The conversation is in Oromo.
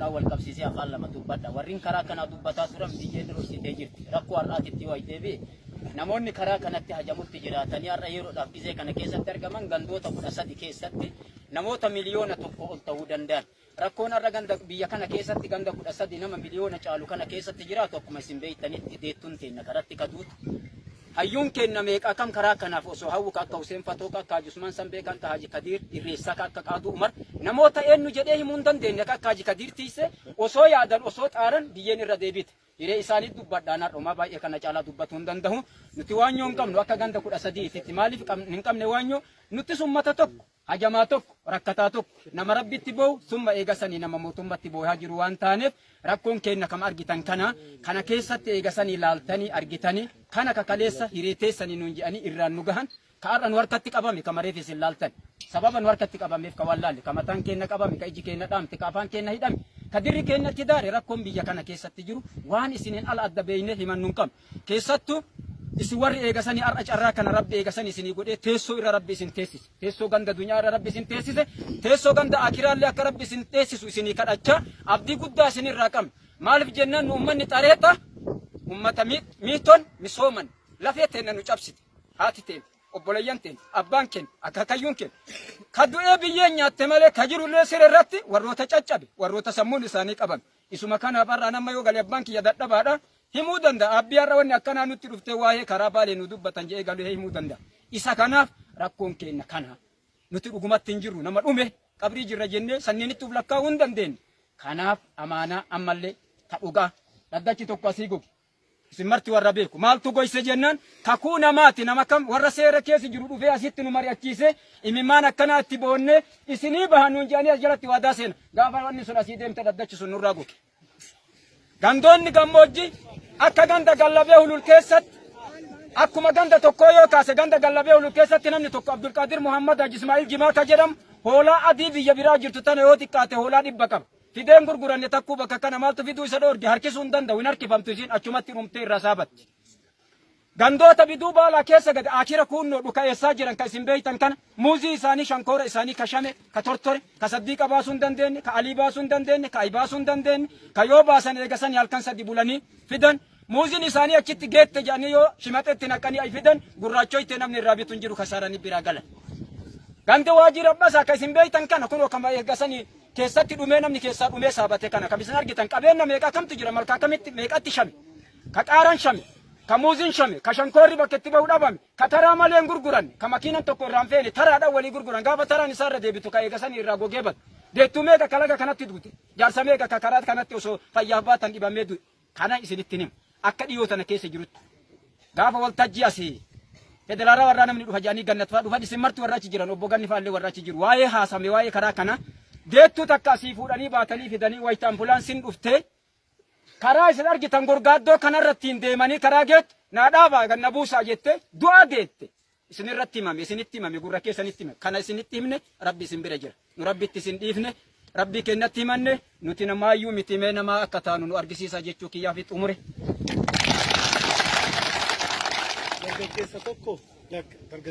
dhaan wal qabsiisee afaan lama dubbadha. Warreen karaa kanaa dubbataa turan biyyeen dursitee jirti. Rakkoo har'aatitti yoo deebi'e namoonni karaa kanatti hajamutti jiraatanii har'a yeroodhaaf gizee kana keessatti argaman gandoota kudha sadi keessatti namoota miliyoona tokko ol ta'uu danda'an. Rakkoon har'a ganda biyya kana keessatti ganda kudha sadi nama miliyoona caalu kana keessatti jiraatu akkuma isin beektanitti deettuun teenna karatti kaduutu Hayyuun keenna meeqa kam karaa kanaaf osoo hawwu ka akka Huseen Fatoo, ka akka Haji Usmaan Sanbee, ka akka Haji Kadiir Irreessaa, ka akka Qaaduu Umar namoota eennu jedhee himuu hin dandeenne ka akka Haji Kadiir Tiissee osoo yaadan osoo xaaran biyyeen irra deebiite. Hiree isaanii dubbadhaan har'a homaa baay'ee kana caalaa dubbatuu hin dandahu. Nuti waanyoo hin qabnu akka ganda 13 titti maaliif hin qabne waanyoo nuttis ummata tokko. hajamaa tokko, rakkataa tokko, nama Rabbitti boowu, summa eegasanii nama mootummatti booyaa jiru waan taaneef, rakkoon keenna kama argitan kana, kana keessatti eegasanii laaltanii argitanii, kana ka kaleessa hiree teessanii nuun je'anii irraan nu gahan, ka ar'a nu harkatti qabame, kama reef isin laaltan, sababa nu harkatti qabameef ka waan laalle, ka mataan keenna qabame, ka iji keenna dhaamte, ka afaan keenna hidhame, ka dirri keennatti daare, rakkoon biyya kana keessatti jiru, waan isiniin ala adda beeynee himannu hin qabnu. Keessattu isin warri eegasani ar'a carraa kana Rabbi eegasani isinii godhee teessoo irra Rabbi isin teessise. Teessoo ganda dunyaa irra Rabbi isin teessise. Teessoo ganda akiraallee akka Rabbi isin teessisu isinii kadhachaa abdii guddaa isinirraa qabna. Maalif jennaan nu ummanni xareeta ummata miiton misooman lafee teenna nu cabsite. Haati teen, obboleeyyan teen, abbaan keen, akaakayyuun keen. Ka du'ee biyyeen nyaatte malee ka jirullee siree irratti warroota caccabe, warroota sammuun isaanii qabame. Isuma kanaaf har'aan amma yoo gale abbaan kiyya dadhabaadha himuu danda'a. Abbii har'a wanni akkanaa nutti dhuftee waa'ee karaa baalee nu dubbatan jedhee galee himuu danda'a. Isa kanaaf rakkoon keenna kana. Nuti dhugumatti hin jirru nama dhume qabrii jirra jennee sanniinitti uf lakkaa'uu hin dandeenye. Kanaaf amaanaa ammallee ta dhugaa dhaddachi tokko asii goge Isin marti warra beeku. Maaltu goyse jennaan kakuu namaati. Nama kam warra seera keessa jiru dhufee asitti nu mari'achiisee imimmaan akkanaa itti boonnee isinii baha nuun jedhanii as jalatti waadaa seena. Gaafa wanni sun asii deemte dhaddachi sun nurraa goge. Gandoonni gammoojjii akka ganda gallabee hulul keessatti akkuma ganda tokkoo yoo kaase ganda gallabee hulul keessatti namni tokko Abdulqaadir Muhammad Haji Ismaa'il Jimaa ka jedhamu hoolaa adii biyya biraa jirtu tana yoo xiqqaate hoolaa dhibba qaba. Fidee hin gurguranne takkuu bakka kana maaltu fiduu isa dhoorge harkisuu hin danda'u hin harkifamtu isiin achumatti dhumtee irraa saabatti. Gandoota biduu baalaa keessa gad aakira kuunnoo dhuka'eessaa jiran ka isin beeytan kana muuzii isaanii shankoora isaanii ka shame ka tortore ka saddiiqa baasuu hin dandeenye ka alii baasuu hin dandeenye ka ayi baasuu hin dandeenye ka yoo baasan eegasanii halkan sadi bulanii fidan Muuziin isaanii achitti geette jedhanii yoo shimaxeetti naqanii ay fidan gurraachoytee namni irraa bitu hin jiru kasaaranii biraa galan. Gandi waajii rabbasa akka isin beektan kana kunoo kama eeggasanii keessatti dhumee namni keessaa dhumee saabate kana kan isin argitan qabeenya meeqa kamtu jira malkaa kamitti meeqatti shame ka qaaraan shame ka muuziin shame ka shankoorri bakka itti bahu dhabame ka taraa malee hin gurguran ka makiinan tokko irraan feene taraadhaan walii gurguran gaafa taraan isaa irra deebitu ka eegasanii irraa gogee badu deettuu meeqa kalaga kanatti duute jaarsa meeqa ka karaa kanatti osoo fayyaaf baatan dhibamee du'e. Kana isinittin hima. Akka dhiyoo tana keessa jirutti gaafa waltajjii asii federaalaa warraa namni dhufa jedhanii gannat fa'aa dhufan isin marti warra achi jiran obbo ganni fa'aallee warra achi jiru waa'ee haasame waa'ee karaa kana deettuu takka asii fuudhanii baatanii fidanii wayita ambulaansiin dhuftee karaa isin argitan gorgaaddoo kanarrattiin deemanii karaa geettu naa dhaabaa ganna buusaa jette du'aa deette. Isinirratti himame, isinitti himame, gurra keessanitti himame. Kana isinitti himne Rabbi isin bira jira. Nu Rabbitti isin dhiifne, Rabbii keenyatti himanne, nuti namaayyuu miti mee namaa akka taanu nu argisiisaa jechuu kiyyaa fi xumure. Dargaggeessa tokko dargaggeessa.